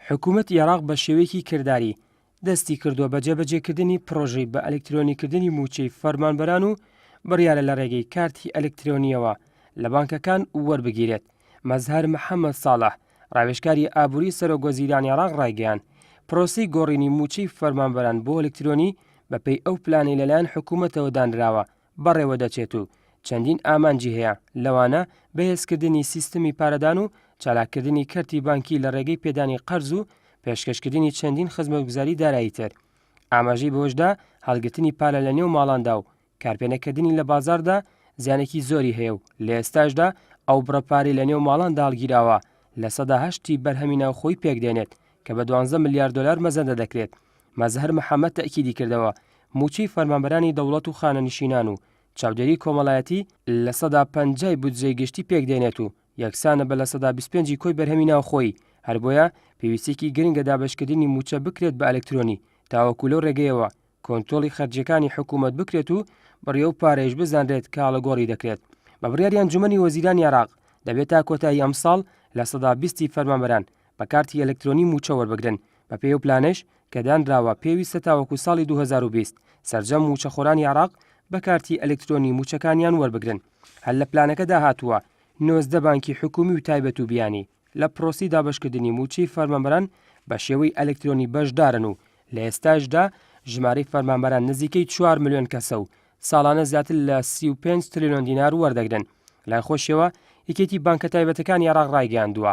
حکومەتی عێراق بە شێوەیەکی کرداری دەستی کردووە بە جێبەجێکردنی پڕۆژەی بە ئەلکترۆنیکردنی مووچەی فەرمانبەران و بڕیارە لە ڕێگەی کارتی ئەلکترۆنیەوە لە بانکەکان وەربگیرێت. مەزهەر محەممەد ساڵح، ڕاوێژکاری ئابووری سەرۆکوەزیرانی عێراق ڕایگەیاند، پرۆسەی گۆڕینی مووچەی فەرمانبەران بۆ ئەلکترۆنی بەپێی ئەو پلانەی لەلایەن حکومەتەوە دانراوە، بەڕێوە دەچێت و چەندین ئامانجی هەیە، لەوانە بەهێزکردنی سیستمی پارەدان و چالاککردنی کەرتی بانکی لە ڕێگەی پێدانی قەرز و پێشکەشکردنی چەندین خزمەتگوزاری دارایی تر. ئاماژەی بەوەش دا، هەڵگرتنی پارە لە نێو ماڵاندا و کارپێنەکردنی لە بازاڕدا زیانێکی زۆری هەیە و لە ئێستاشدا ئەو بڕە پارەی لە نێو ماڵاندا هەڵگیراوە لە سەدا هەشت ی بەرهەمی ناوخۆی پێکدێنێت کە بە دوانزە ملیار دۆلار مەزەندە دەکرێت مەزهەر محەمەد تەئکیدی کردەوە، مووچەی فەرمانبەرانی دەوڵەت و خانەنشینان و چاودێری کۆمەڵایەتی لە سەدا پەنجای بودجەی گشتی پێک دێنێت و یەکسانە بە لە سەدا بیست پێنجی کۆی بەرهەمی ناوخۆیی، هەر بۆیە پێویستیەکی گرنگە دابەشکردنی مووچە بکرێت بە ئەلکترۆنی تاوەکو لەو رێگەیەوە کۆنتۆڵی خەرجیەکانی حکوومەت بکرێت و بڕی ئەو پارەیەش بزانرێت کە ئاڵوگۆڕی دەکرێت بە بڕیاری ئەنجومەنی وەزیرانی عێراق، دەبێت تا کۆتایی ئەمساڵ لە سەدا بیستی فەرمانبەران بە کارتی ئەلکترۆنی مووچە وەربگرن، بەپێی ئەو پلانەیش کە دانراوە پێویستە تاوەکو ساڵی دوو هەزار و بیست سەرجەم مووچەخۆرانی عێراق بە کارتی ئەلکترۆنی مووچەکانیان وەربگرن، هەر لە پلانەکەدا هاتووە نۆزدە بانکی حکومی و تایبەت و بیانی لە پرۆسی دابەشکردنی مووچەی فەرمانبەران بە شێوەی ئەلکترۆنی بەشدارن و لە ئێستاشدا ژمارەی فەرمانبەران نزیکەی چوار ملیۆن کەسە و ساڵانە زیاتر لە سی و پێنج ترلیۆن دینار وەردەگرن لای خۆشیەوە یەکێتی بانکە تایبەتەکانی عێراق ڕایگەیاندووە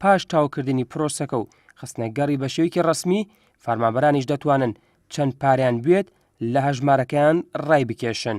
پاش تاوکردنی پرۆسەکە و خستنە گەڕی بە شێوەیەکی ڕەسمی، فەرمانبەرانیش دەتوانن چەند پارەیان بوێت لە هەژمارەکەیان ڕایبکێشن.